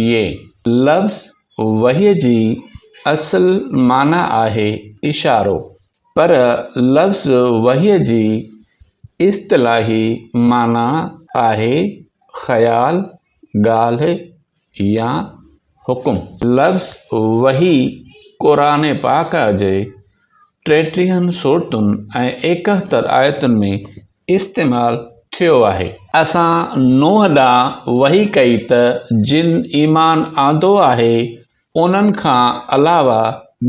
يي. لفظ وحي جي اصل معنيٰ آهي اشارو، پر لفظ وحي جي اصطلاحي معنيٰ آهي خيال، ڳالهه يا حڪم. لفظ وحي قرآن پاڪ جي ٽيٽيهن سورتن ۽ ايڪهتر آيتن ۾ استعمال ٿيو آهي. اسان نوح ڏانهن وحي ڪئي ته جن ايمان آندو آهي انهن کان علاوه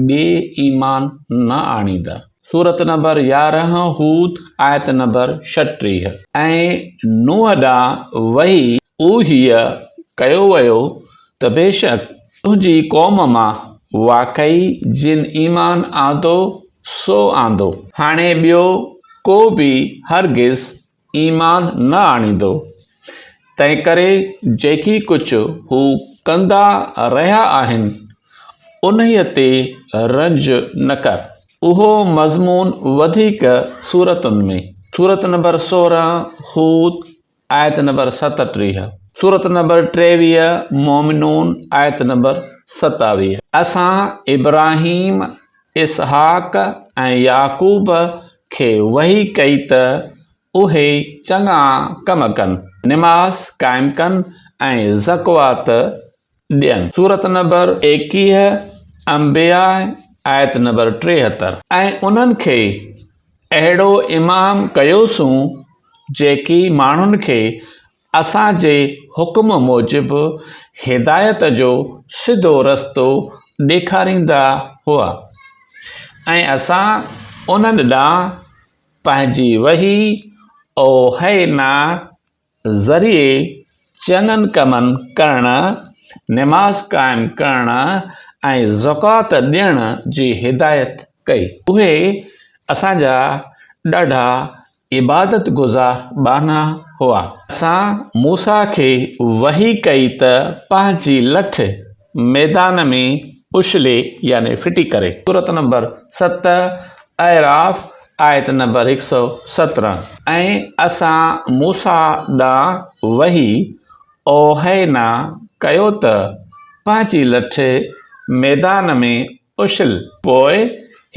ٻئي ايمان نه آڻيندا، سورة نمبر يارهن، هود، آيت نمبر ڇٽيهه، ۽ نوح ڏانهن وحي اوحي ڪيو ويو ته بيشڪ تنهنجي قوم مان واقعي جن ايمان آندو سو آندو. هاڻي ٻيو ڪو به هرگز ايمان نه آڻيندو. تنهنڪري جيڪي ڪجهه هو ڪندا رهيا آهن انهيء تي رنج نه ڪر. اهو مضمون وڌيڪ سورتن ۾. سورت نمبر سورهن، هود، آيت نمبر ستٽيهه سورة نمبر ٽيويهه مومنون آيت نمبر ستاويهه اسان ابراهيم، اسحاق ۽ يعقوب کي وحي ڪئي ته اهي چڱا ڪم ڪن، نماز قائم ڪن ۽ زڪوات ڏين. سورة نمبر ايڪيهه، انبياء، آيت نمبر ٽيهتر، ۽ انهن کي اهڙو امام ڪيوسون جيڪي ماڻهن کي اسان جي حڪم موجب هدايت جو سڌو رستو ڏيکاريندا هئا ۽ اسان انهن ڏانهن پنهنجي وحي اوحينا ذريعي چڱن ڪمن ڪرڻ، نماز قائم ڪرڻ ۽ زڪوات ڏيڻ جي هدايت ڪئي. اهي اسان جا ڏاڍا عبادت گذار ٻانها هئا. اسان موسيٰ کي وحي ڪئي ته پنهنجي لٺ، ميدان ۾ اڇلي يعني ڦٽي ڪري. سورة نمبر ست، اعراف، آيت نمبر هڪ سؤ سترهن، ۽ اسان موسيٰ ڏانهن وحي، اوحينا، ڪيو ته پنهنجي لٺ ميدان ۾ اڇل. پوء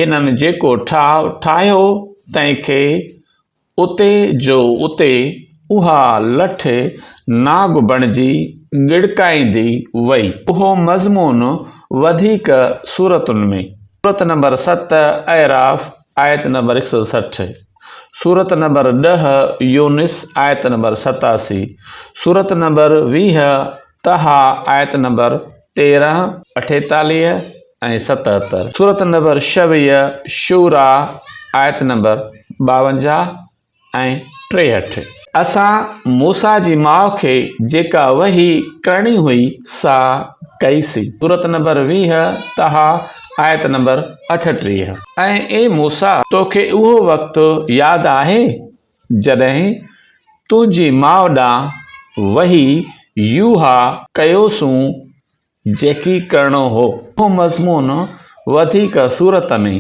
هنن جيڪو ٺاهه ٺاهيو تنهن کي اتي جو اتي اها لٺ ناگ بڻجي ڳڙڪائيندي وئي. اهو مضمون وڌيڪ سورتن ۾. سورت نمبر ست اعراف آيت نمبر هڪ سؤ سٺ، سورت نمبر ڏهه يونس آيت نمبر ستاسي، سورت نمبر ويهه طه آيت نمبر تيرهن، اٺيتاليهه ۽ ستهتر، سورة نمبر شويه، شوريٰ، آيت نمبر ٻاونجاهه ۽ ٽيهٺ. اسان موسيٰ جي ماء کي جيڪا وحي ڪرڻي هئي سا ڪئي سي، سورة نمبر ويهه، طه، آيت نمبر اٺٽيهه. ۽، اي موسيٰ! توکي اهو وقت ياد آهي؟ جڏهن تنهنجي ماء ڏانهن وحي يوحيٰ ڪيوسون جيڪي ڪرڻو هو. اهو مضمون وڌيڪ سورت ۾،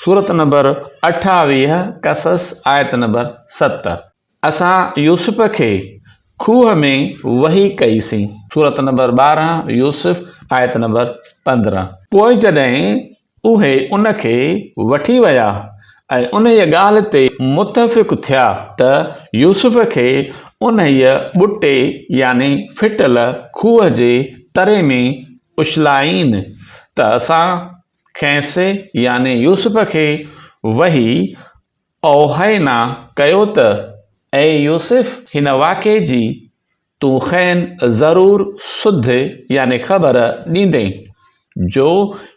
سورت نمبر اٺاويهه، قصص، آيت نمبر ست، اسان يوسف کي کوهه ۾ وحي ڪئيسين، سورت نمبر ٻارهن، يوسف، آيت نمبر پندرهن، پوء جڏهن اهي ان کي وٺي ويا ۽ انهيء ڳالهه تي متفق ٿيا ته يوسف کي انهيء ٻٽي يعني ڦٽل کوهه جي تري ۾ اڇلائين ته اسان کيس يعني يوسف کي وحي اوحينا ڪيو ته اي يوسف! هن واقعي جي تون کين ضرور سڌ يعني خبر ڏيندين، جو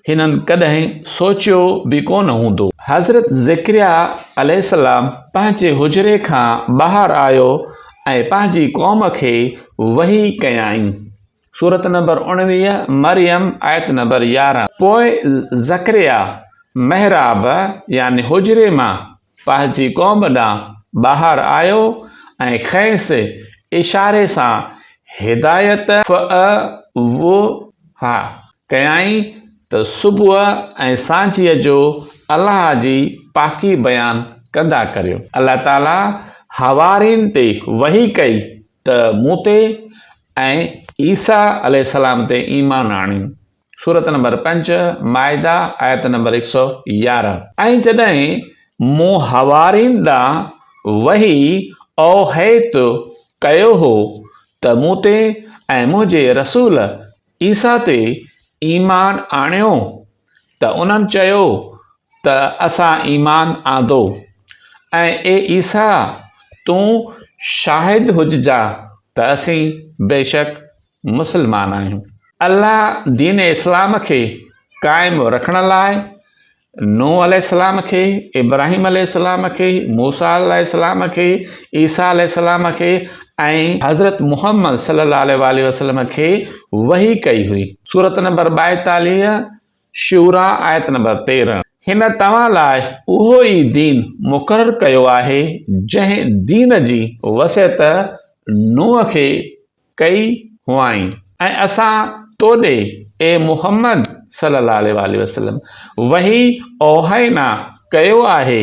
هنن ڪڏهن سوچيو به ڪونه هوندو. حضرت ذڪريا عليه السلام پنهنجي حجري کان ٻاهر آيو ۽ پنهنجي قوم کي وحي ڪيائين، سورة نمبر اڻويهه، مريم، آيت نمبر يارهن. پوء ذڪريا محراب يعني حجري مان پنهنجي قوم ڏانهن ٻاهر آيو ۽ کيس اشاري سان هدايت فعووه ڪيائين ته صبح ۽ سانجهيء جو الله جي پاڪي بيان ڪندا ڪريو. الله تعالي حوارين تي وحي ڪئي ته مون تي ۽ عيسيٰ عليه السلام تي ايمان آڻين. سورة نمبر پنج، مائده، آيت نمبر هڪ سؤ يارهن، ۽ جڏهن مون حوارين ڏانهن وحي، اوحيت، ڪيو هو ته مون تي ۽ منهنجي رسول عيسيٰ تي ايمان آڻيو ته انهن چيو ته اسان ايمان آندو ۽ اي عيسيٰ تون شاهد هججانء ته اسين بيشڪ مسلمان آهيون. الله دين اسلام کي قائم رکڻ لاء نوح عليه السلام کي، ابراهيم عليه السلام کي، موسيٰ عليه السلام کي، عيسيٰ عليه السلام کي ۽ حضرت محمد صلي الله عليه واٰله وسلم کي وحي ڪئي هئي. سورة نمبر ٻائيتاليهه، شعراء، آيت نمبر تيرهن. هن توهان لاء اهو ئي دين مقرر ڪيو آهي جنهن دين جي وصيت نوح کي ڪئي هئائين ۽ اسان تو ڏي، اي محمد صلّي اللّٰه عليه واٰله وسلّم، وحي اوحينا ڪيو آهي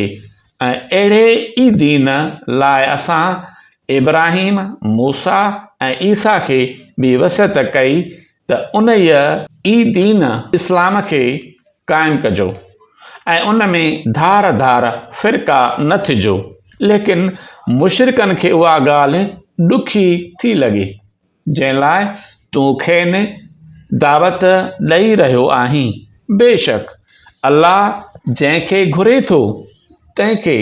۽ اهڙي ئي دين لاء اسان ابراهيم، موسيٰ ۽ عيسيٰ کي به وصيت ڪئي ته انهيء ئي دين اسلام کي قائم ڪجو ۽ ان ۾ ڌار ڌار فرقا نه ٿجو، ليڪن مشرڪن کي اها ڳالهه ڏکي ٿي لڳي، جنهن لاء تون کين دعوت ڏئي رهيو آهين، بيشڪ الله جنهن کي گهري ٿو تنهن کي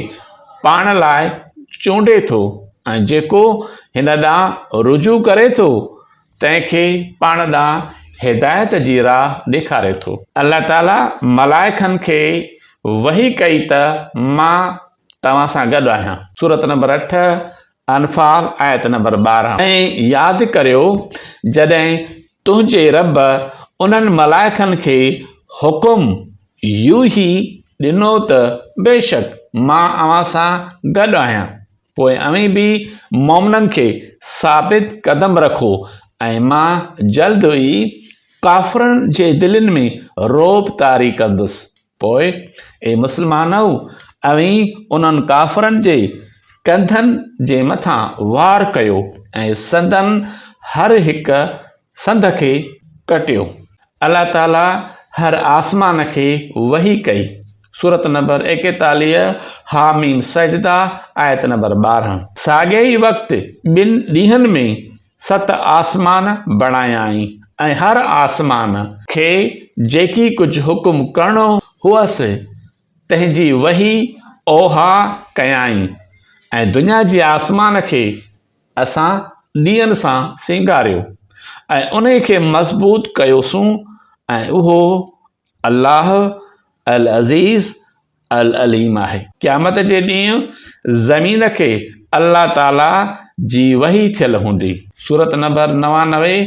پاڻ لاء چونڊي ٿو ۽ جيڪو هن ڏانهن رجوع ڪري ٿو تنهن کي پاڻ ڏانهن هدايت جي راهه ڏيکاري ٿو. الله تعاليٰ ملائڪن کي وحي ڪئي ته مان توهان سان گڏ آهيان، سورة نمبر اٺ، انفال، آيت نمبر ٻارهن. ۽ ياد ڪريو جڏهن تنهنجي رب انهن ملائڪن کي حڪم، يوحي، ڏنو ته بيشڪ مان اوهان سان گڏ آهيان. پوء اوهين به مؤمنن کي ثابت قدم رکو ۽ مان جلد ئي ڪافرن جي دلين ۾ رعب طاري ڪندس. پوء اي مسلمانؤ! اوهين انهن ڪافرن جي ڪنڌن جي مٿان وار ڪيو ۽ سندن هر هڪ سنڌ کي ڪٽيو الله تعالي هر آسمان کي وحي ڪئي سورت نمبر ايڪيتاليهه حاميم سجده آيت نمبر ٻارهن ساڳئي ئي وقت ٻن ڏينهن ۾ ست آسمان بڻايائين ۽ هر آسمان کي جيڪي ڪجهه حڪم ڪرڻو هئس تنهن جي وحي اوحيٰ ڪيائين ۽ دنيا جي آسمان کي اسان ڏيئن سان سينگاريو ۽ انهي کي مضبوط ڪيوسون ۽ اهو، الله، العزيز العليم آهي. قيامت جي ڏينهن زمين کي الله تعالي جي وحي ٿيل هوندي. سورة نمبر نوانوي،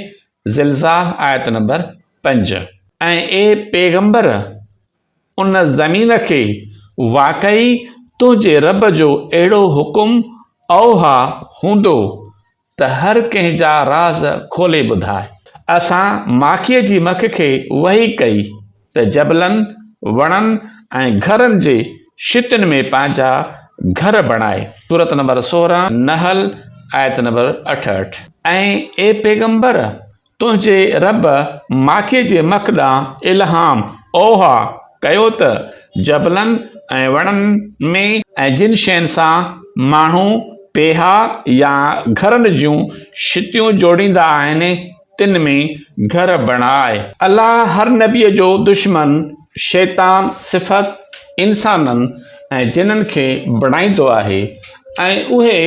زلزاح، آيت نمبر پنج، ۽، اي پيغمبر! ان زمين کي واقعي تنهنجي رب جو اهڙو حڪم اوحا هوندو ته هر ڪنهن جا راز کولي ٻڌاء. اسان ماکيء جي مک کي وحي ڪئي ته جبلن، وڻن ۽ گهرن جي شتين ۾ پنهنجا گهر بڻائي، سورة نمبر سورهن، نحل، آيت نمبر اٺهٺ، ۽، اي پيغمبر! تنهنجي رب ماکي جي مک ڏانهن الهام، اوحا، ڪيو ته جبلن ۽ وڻن ۾ ۽ جن شين سان ماڻهو پيها يا گهرن جون شتيون جوڙيندا آهن تن ۾ گهر بڻاء. الله هر نبيء جو دشمن شيطان صفت انسانن ۽ جنن کي بڻائيندو آهي ۽ اهي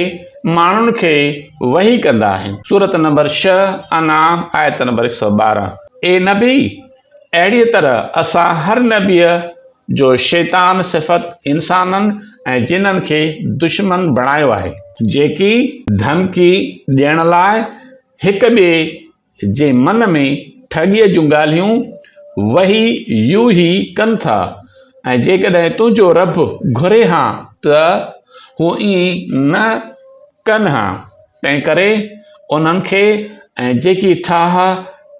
ماڻهن کي وحي ڪندا آهن، سورة نمبر ڇهه، انعام، آيت نمبر هڪ سؤ ٻارهن، اي نبي! اهڙيء طرح اسان هر نبيء جو شيطان صفت انسانن ۽ جنن کي دشمن بڻايو آهي. جيڪي ڌمڪي ڏيڻ لاء هڪ ٻئي جي من ۾ ٺڳيء جون ڳالهيون وهي يو هي ڪن ٿا ۽ جيڪڏهن تنهنجو رب گهري ها ته هو ائين نه ڪن ها، تنهنڪري انهن کي ۽ جيڪي ٺاها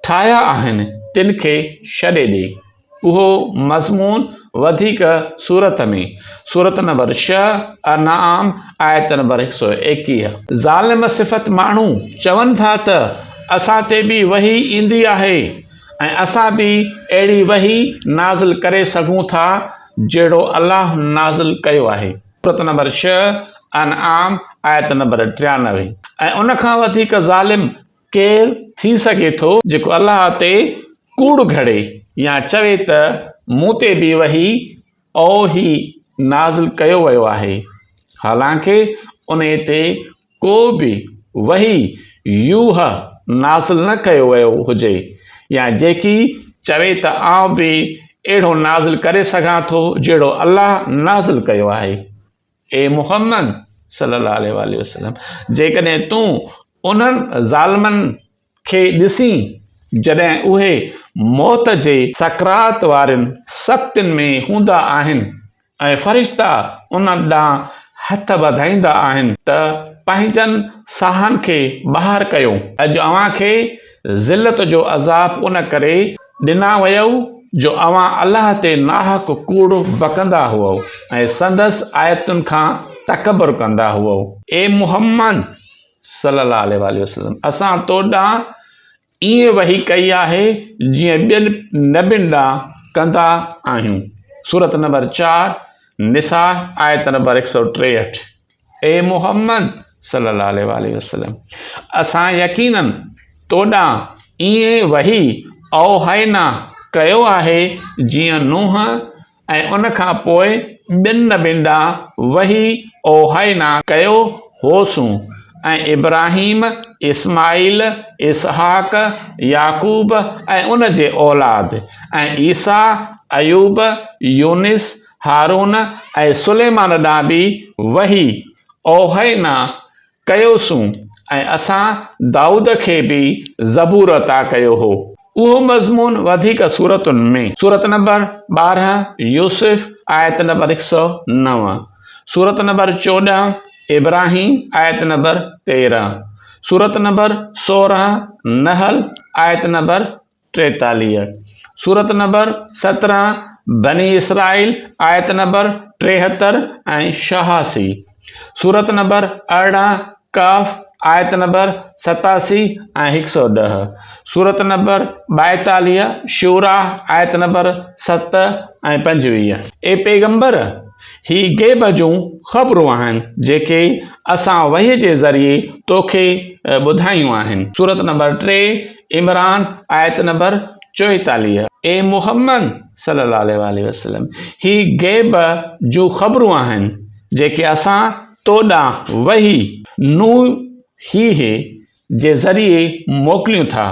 ٺاهيا آهن تن کي ڇڏي ڏي. اهو مضمون وڌيڪ سورت ۾ سورت نمبر شهه، انعام، آيت نمبر هڪ سؤ ايڪيهه. ظالم صفت ماڻهو چون ٿا ته اسان تي به وحي ايندي آهي ۽ اسان به اهڙي وحي نازل ڪري سگهون ٿا جهڙو الله نازل ڪيو آهي، سورت نمبر شهه، انعام، آيت نمبر ٽيانوي، ۽ ان کان وڌيڪ ظالم ڪير ٿي سگهي ٿو جيڪو الله تي ڪوڙ گهڙي يا چوي ته مون تي به وحي، اوحي، نازل ڪيو ويو آهي، حالانڪه انهي تي ڪو به وحي، يوحه، نازل نه ڪيو ويو هجي، يا جيڪي چوي ته آئون به اهڙو نازل ڪري سگهان ٿو جهڙو الله نازل ڪيو آهي، اي محمد صلّي اللّٰه عليه واٰله وسلّم جيڪڏهن تون انهن ظالمن کي ڏسين جڏهن اهي موت جي سڪرات وارين سختين ۾ هوندا آهن ۽ فرشتا انهن ڏانهن هٿ وڌائيندا آهن ته پنهنجن ساهن کي ٻاهر ڪيو اڄ اوهان کي ذلت جو عذاب ان ڪري ڏنا ويؤ جو اوهان الله تي ناحق ڪوڙ بڪندا هئؤ ۽ سندس آيتن کان تڪبر ڪندا هئؤ. اي محمد صلّي اللّٰه عليه واٰله وسلّم! اسان تو ڏانهن ائين وحي ڪئي آهي جيئن ٻين نبين ڏانهن ڪندا آهيون، سورة نمبر چار، نساء، آيت نمبر هڪ سؤ ٽيهٺ. اي محمد صلّي اللّٰه عليه واٰله وسلّم اسان يقيناً تو ڏانهن ائين وحي اوحينا ڪيو آهي جيئن نوح ۽ ان کان پوء ٻين نبين ڏانهن وحي اوحينا ڪيو هوسون ۽ ابراهيم، اسماعيل، اسحاق، يعقوب ۽ ان جي اولاد ۽ عيسيٰ، ايوب، يونس، هارون ۽ سليمان ڏانهن به وحي، اوحينا، ڪيوسون ۽ اسان دائود کي به زبور عطا ڪيو هو. اهو مضمون وڌيڪ سورتن ۾. سورت نمبر ٻارهن، يوسف، آيت نمبر هڪ سؤ نو، سورت نمبر چوڏهن، ابراهيم، آيت نمبر تيرهن، سورت نمبر سورهن، نحل، آيت نمبر ٽيتاليهه، سورة نمبر سترهن، بني اسرائيل، آيت نمبر ٽيهتر ۽ شهاسي، سورة نمبر ارڙهن، ڪهف، آيت نمبر ستاسي ۽ هڪ سؤ ڏهه، سورة نمبر ٻائيتاليهه، شعراء، آيت نمبر ست ۽ پنجويهه. اي پيغمبر! هي غيب جون خبرون آهن جيڪي اسان وحي جي ذريعي توکي ٻڌايون آهن، سورة نمبر ٽي، عمران، آيت نمبر چوئيتاليهه، اي محمد صلي الله عليه واٰله وسلم! هي غيب جون خبرون آهن جيڪي اسان تو ڏانهن وحي، نوحيه، جي ذريعي موڪليون ٿا،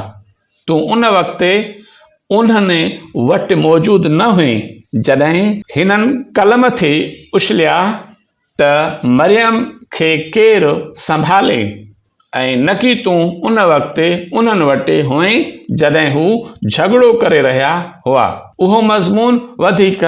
تون ان وقت انهن وٽ موجود نه هئين جڏهن هنن قلم کي اڇليا، ته مريم کي ڪير سنڀالي ۽ نڪي تون ان وقت انهن وٽ هئين جڏهن هو جهڳڙو ڪري رهيا هئا. اهو مضمون وڌيڪ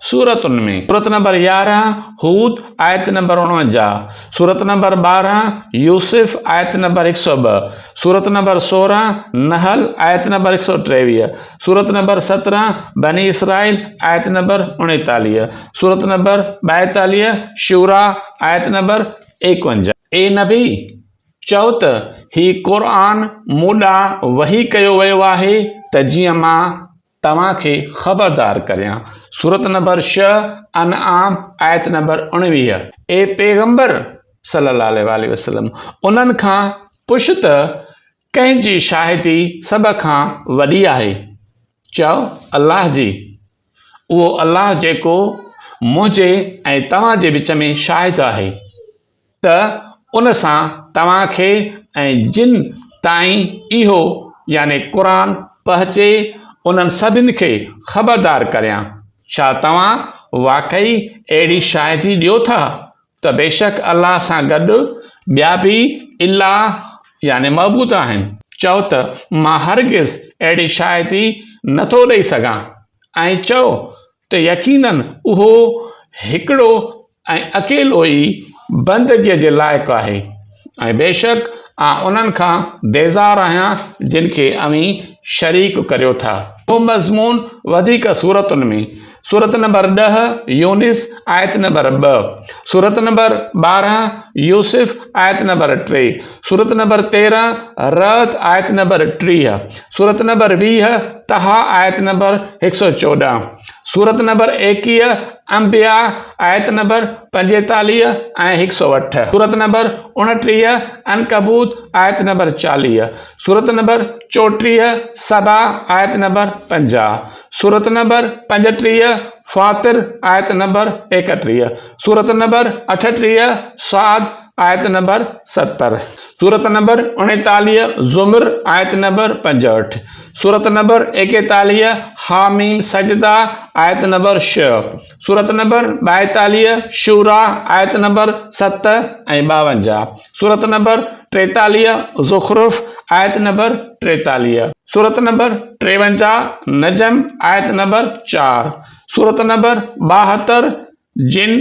سورتن ۾، سورت نمبر يارهن هود آيت نمبر اڻونجاهه، سورت نمبر ٻارهن يوسف آيت نمبر هڪ سؤ ٻه، سورت نمبر سورهن نحل آيت نمبر هڪ سؤ ٽيويهه، سورت نمبر سترهن بني اسرائيل آيت نمبر اڻيتاليهه سورت نمبر ٻائيتاليهه شورا آيت نمبر ايڪونجا اي نبي چئو ته هي قرآن مون ڏانهن وحي ڪيو ويو آهي ته جيئن مان توهان کي خبردار ڪريان سورت نمبر شهه انعام آيت نمبر اڻويهه اي پيغمبر صلي الله عليه وسلم انهن کان پڇ ته ڪنهن جي شاهدي سڀ کان وڏي آهي؟ چؤ، الله جي. اهو الله جيڪو منهنجي ۽ توهان جي وچ ۾ شاهد آهي ته ان سان توهان کي ۽ جن تائين اهو، يعني قرآن، پهچي انهن سڀن کي خبردار ڪريان، ڇا توهان واقعي اهڙي شاهدي ڏيو ٿا ته بيشڪ الله سان گڏ ٻيا به الا يعني معبود آهن، چؤ ته مان هرگز اهڙي شاهدي نه ٿو ڏئي سگهان ۽ چؤ ته يقيناً اهو هڪڙو ۽ اڪيلو ئي بندگيء جي لائق آهي. ۽ بيشڪ آء انهن کان بيزار آهيان جن کي اوهين شريڪ ڪريو ٿا. اهو مضمون وڌيڪ سورتن ۾، سورت نمبر ڏهه، يونس، آيت نمبر ٻه، سورت نمبر ٻارهن، يوسف، آيت نمبر ٽي، سورت نمبر تيرهن، رعد، آيت نمبر ٽيهه، سورت نمبر ويهه، طه، آيت نمبر هڪ سؤ چوڏهن، سورت نمبر ايڪيهه، انبياء، آيت نمبر پنجيتاليهه ۽ هڪ سؤ اٺ، سورت نمبر اڻٽيهه، عنڪبوت، آيت نمبر چاليهه، سورت نمبر چوٽيهه، سبا، آيت نمبر پنجاهه، سورت نمبر پنجٽيهه، فاطر، آيت نمبر ايڪٽيهه، سورت نمبر اٺٽيهه، صاد، آيت نمبر ستر، سورة نمبر اڻيتاليهه، زمر، آيت نمبر پنجهٺ، سورة نمبر ايڪيتاليهه، حاميم سجده، آيت نمبر شهه، سورة نمبر ٻائيتاليهه، شورا، آيت نمبر ست ۽ ٻاونجاهه، سورة نمبر ٽيتاليهه، زخرف، آيت نمبر ٽيتاليهه، سورة نمبر ٽيونجاهه، نجم، آيت نمبر چار، سورة نمبر ٻاهتر، جن،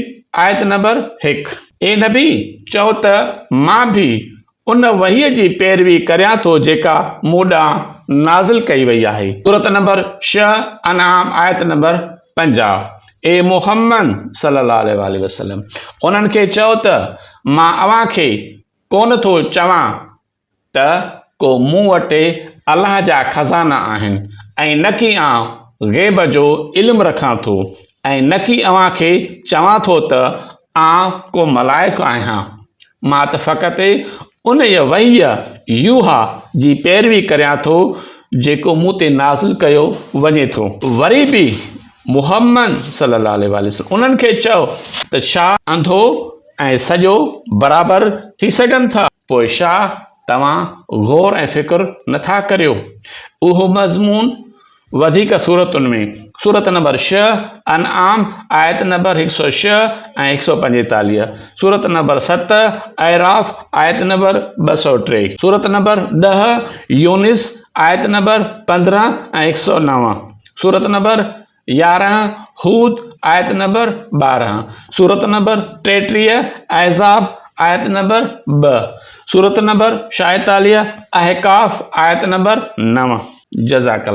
آيت نمبر هڪ، اي نبي! چؤ ته مان به ان وحيء جي پيروي ڪريان ٿو جيڪا مون ڏانهن نازل ڪئي وئي آهي. سورة نمبر ڇهه، انعام، آيت نمبر پنجاهه، اي محمد صلّي اللّٰه عليه واٰله وسلّم! انهن کي چؤ ته مان اوهان کي ڪونه ٿو چوان ته ڪو مون وٽ الله جا خزانا آهن ۽ نه ڪي آئون غيب جو علم رکان ٿو ۽ نه ڪي اوهان کي چوان ٿو ته آئون ڪو ملائڪ آهيان. مان ته فقط انهيء وحيء، يوحا، جي پيروي ڪريان ٿو جيڪو مون تي نازل ڪيو وڃي ٿو. وري به محمد صلي الله عليه واٰله وسلم انهن کي چئو ته ڇا انڌو ۽ سڄو برابر ٿي سگهن ٿا؟ پوء ڇا توهان غور ۽ فڪر نه ٿا ڪريو؟ اهو مضمون وڌيڪ سورتن ۾، سورت نمبر ڇهه، انعام، آيت نمبر هڪ سؤ ڇهه ۽ هڪ سؤ پنجيتاليهه، سورت نمبر ست، اعراف، آيت نمبر ٻه سؤ ٽي، سورت نمبر ڏهه، يونس، آيت نمبر پندرهن ۽ هڪ سؤ نو، سورت نمبر يارهن، هود، آيت نمبر ٻارهن، سورة نمبر ٽيٽيهه، احزاب، آيت نمبر ٻه، سورة نمبر شايطاليه، احقاف، آيت نمبر نو. جزاڪ الله.